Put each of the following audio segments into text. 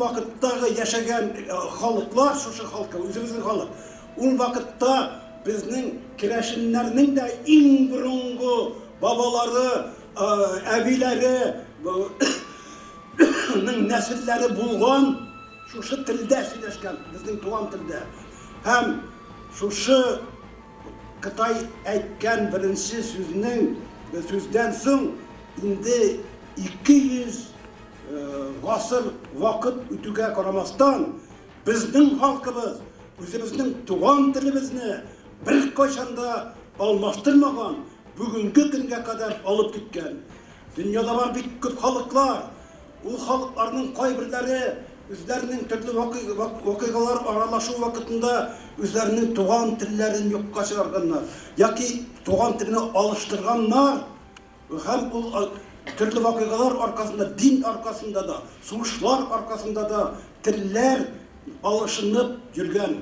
вакыттагы яшәгән халыклар, шушы халкы, үзебезнең халык. Ул вакытта безнең керәшеннәрнең дә иң борынгы бабалары, әбиләре, нәселләре булган, шушы телдә сөйләшкән, безнең туган телдә. Һәм шушы Кытай әйткән беренче сүзнең сүздән соң инде 200 гасыр вакыт үтүгә карамастан, безнең халкыбыз үзебезнең туган телебезне беркайчан да алмаштырмаган, бүгенге көнгә кадәр алып киткән. Дөньяда бар бик күп халыклар. Ул халыкларның кайберләре үзләренең төрле вакыйгалар аралашу вакытында үзләренең туган телләрен юкка чыгарганнар яки туган телне алыштырганнар һәм ул төрле вакыйгалар аркасында, дин аркасында да, сугышлар аркасында да телләр алышынып йөргән.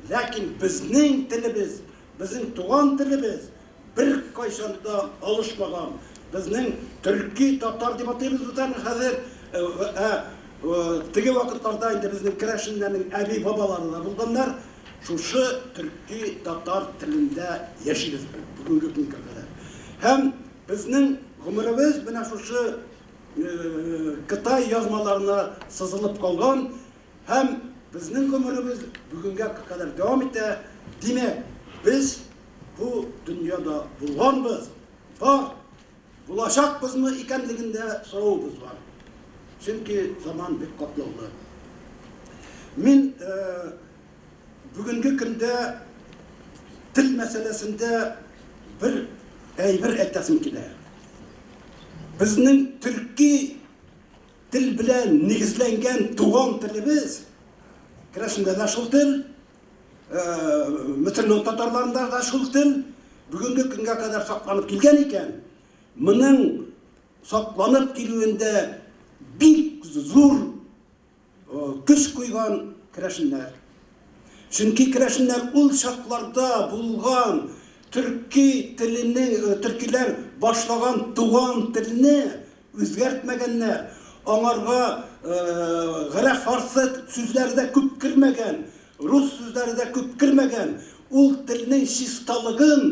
Ләкин безнең телебез. Безнең туган телебез беркайчан да алышмаган. Безнең төрки, татар дип атыйбыз без аны хәзер. Ә теге вакытларда инде безнең керәшеннәрнең әби-бабалары да булганнар. Шушы төрки, татар телендә яшибез без бүгенге көнгә кадәр. Һәм безнең гомеребез менә шушы Кытай язмаларына сызылып калган. Һәм безнең гомеребез бүгенгә кадәр дәвам итә, димәк, без бу дөньяда булганбыз, бар, булачакбызмы икәнлегендә соравыбыз бар. Чөнки заман бик катлаулы. Мин бүгенге көндә тел мәсьәләсендә бер әйбер әйтәсем килә. Безнең төрки Тел белән нигезләнгән туган телебез керәшендә дә шул тел, мөселман татарларында да шул тел бүгенге көнгә кадәр сакланып килгән икән, моның сакланып килүендә бик зур көч куйган керәшеннәр. Чөнки керәшеннәр ул чакларда булган төрки теленең, төркиләр башлаган туган телне Үзгәртмәгәннәр, аңарга гырә фарсет сүзләре дә күп кермәгән, рус сүзләре дә күп кермәгән, ул телнең чисталыгын,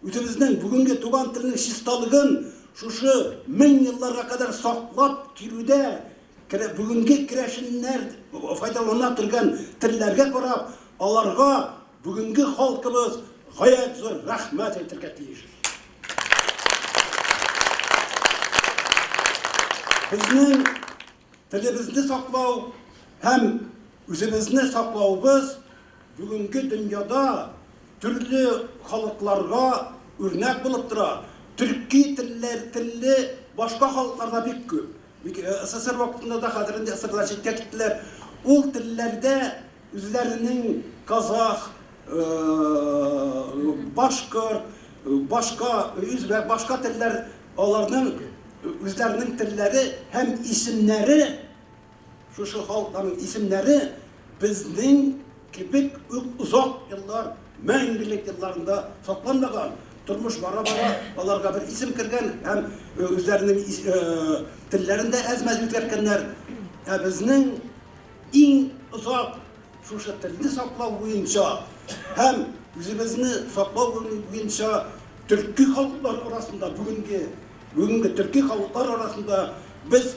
үзебезнең бүгенге туган телнең чисталыгын шушы мең елларга кадәр саклап килүдә керә бүгенге керәшеннәр файдалана торган телләргә карап, аларга Бүгенге халкыбыз гаять зур рәхмәт әйтергә тиеш. Безнең телебезне саклау һәм үзебезне саклавыбыз бүгенге дөньяда төрле халыкларга үрнәк булып тора. Төрки телле башка халыклар да бик күп. Бик СССР вакытында да, хәзер инде СССРдан читкә киттеләр, ул телләрдә үзләренең казах, башкорт, башка үзбәк, башка телләр аларның үзләренең телләре һәм исемнәре, шушы халыкларның исемнәре, безнең кебек үк озак еллар, мәңгелек елларында сакланмаган, тормыш бара-бара аларга бер исем кергән һәм үзләренең телләрен дә әз-мәз үзгәрткәннәр. Ә безнең иң озак шушы телне саклау буенча һәм үзебезне саклау буенча төрки халыклар арасында, бүгенге төрки халыклар арасында без